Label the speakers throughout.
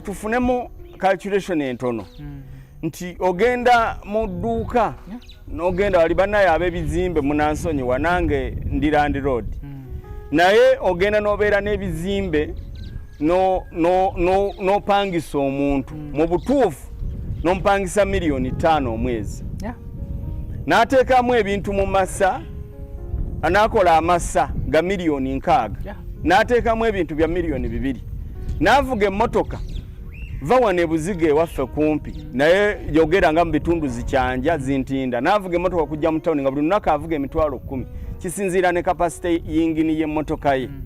Speaker 1: tufunemu calculation entono mm. nti ogenda mu dduuka n'ogenda wali banaye ab'ebizimbe munansonyi wanange ndi landi road mm. naye ogenda n'obeera n'ebizimbe n'opangisa omuntu mm. mu butuufu n'omupangisa miliyoni ttaano omwezi n'ateekamu ebintu mu masa anaakola amasa ga miliyoni nkaaga n'ateekamu ebintu bya miliyoni bibiri n'avuga emmotoka va wano ebuziga ewaffe kumpi naye yogera nga mu bitundu zikyanja zintinda n'avuga emmotoka okujja mu tawuni nga buli lunaku avuga emitwalo kkumi kisinziira ne kapasite yingini y'emmotoka ye mm.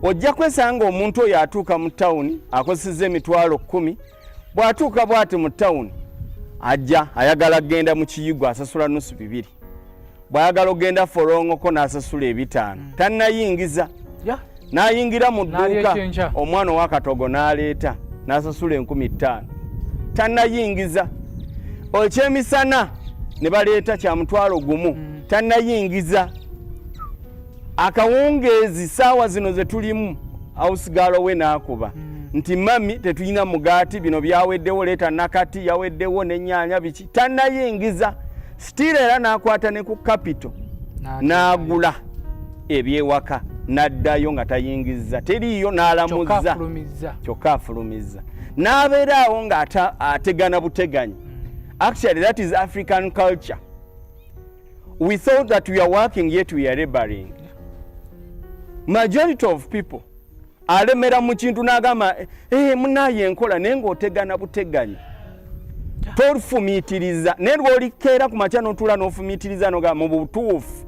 Speaker 1: ojja kwesanga omuntu oyo atuuka mu tawuni akozeseza emitwalo kkumi bw'atuuka bw'ati mu tawuni ajja ayagala kugenda mu kiyigo asasula nusu bibiri bwayagala ogenda folongoko nasasula ebitaano mm. tanayingiza nayingira mu dduuka omwana owakatogo naleeta nasasula enkumi ttaano tanayingiza ekyemisana ne baleeta kya mutwalo gumu mm. tanayingiza akawungeezi saawa zino ze tulimu awusigaalo we naakuba mm. nti mami tetulina mugaati bino byaweddewo leeta nakati yaweddewo nenyanya biki tanayingiza sitiira era n'akwata ne ku kapito n'agula ebyewaka n'addayo nga tayingizza teriiyo n'alamuzza kyokka afulumizza n'abeera awo nga ategana buteganyi hmm. actually that is african culture we thought that we are working yet we are laboring majority of people alemera mu kintu n'agamba eh, eh munaye enkola naye ng'otegana buteganyi tofumiitiriza naye lwolikeera ku makya n'otuula n'ofumiitiriza noga mu butuufu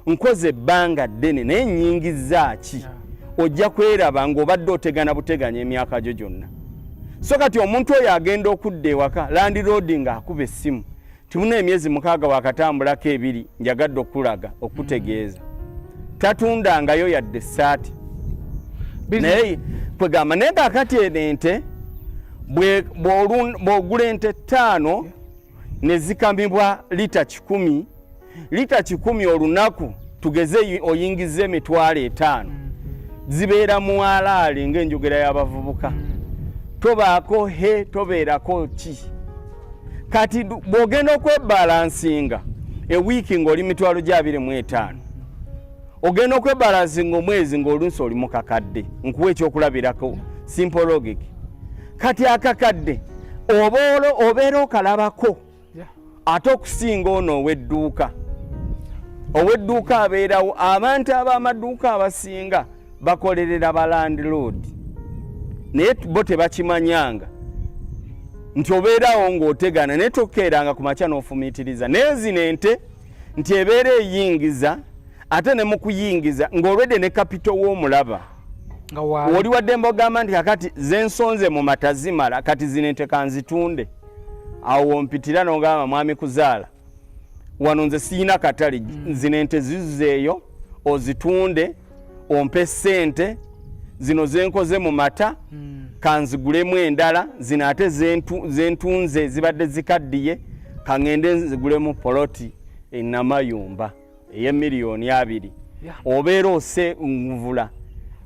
Speaker 1: nkoze ebbanga ddene naye nyingiza ki ojja kweraba ng'obadde otegana buteganya emyaka gyo gyonna so kati omuntu oyo agenda okudda ewaka landiroodi ng'akuba essimu Tuna emyezi mukaaga wakatambulako ebiri njagadde okulaga okutegeeza tatundangayo yadde essaati naye kwegamba naye kakati eno ente bw'ogula ente ttaano ne zikamibwa lita kikumi lita kikumi olunaku tugeze oyingiza emitwalo etaano mm-hmm. zibeera mu alaali ng'enjogera y'abavubuka mm-hmm. tobaako he tobeerako ki kati bw'ogenda okwebalansinga ewiiki ng'oli mitwalo gya abiri mu etaano ogenda okwebalansinga omwezi ng'olunsi oli mu kakadde nkuwa ekyokulabirako simpologic kati akakadde obaolo obeera okalabako ate okusinga ono ow'edduuka ow'edduuka abeerawo abantu ab'amaduuka abasinga yeah. bakolerera ba landlord naye bo tebakimanyanga nti obeerawo ng'otegana naye tokeeranga ku makya n'ofumiitiriza naye zino ente nti ebeera eyingiza ate ne mu kuyingiza ng'olwedde ne kapito w'omulaba oli wadde mbogamba nti kakati zensonze mu mata zimala kati zino ente kanzitunde awo wompitira nogamba mwami kuzaala wano nze siyina katale mm. zino ente zizuzeeyo ozitunde ompe sente zino zenkoze mu mata mm. kanzigulemu endala zino ate zentunze zibadde zikaddiye kaŋende nzigulemu poloti enamayumba eyemiliyoni abiri obeera ose nvula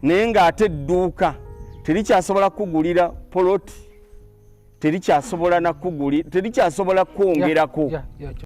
Speaker 1: naye ngaate edduuka terikyasobola kukugulira poloti terikyasobola nakuguli terikyasobola kwongerako yeah, yeah, yeah.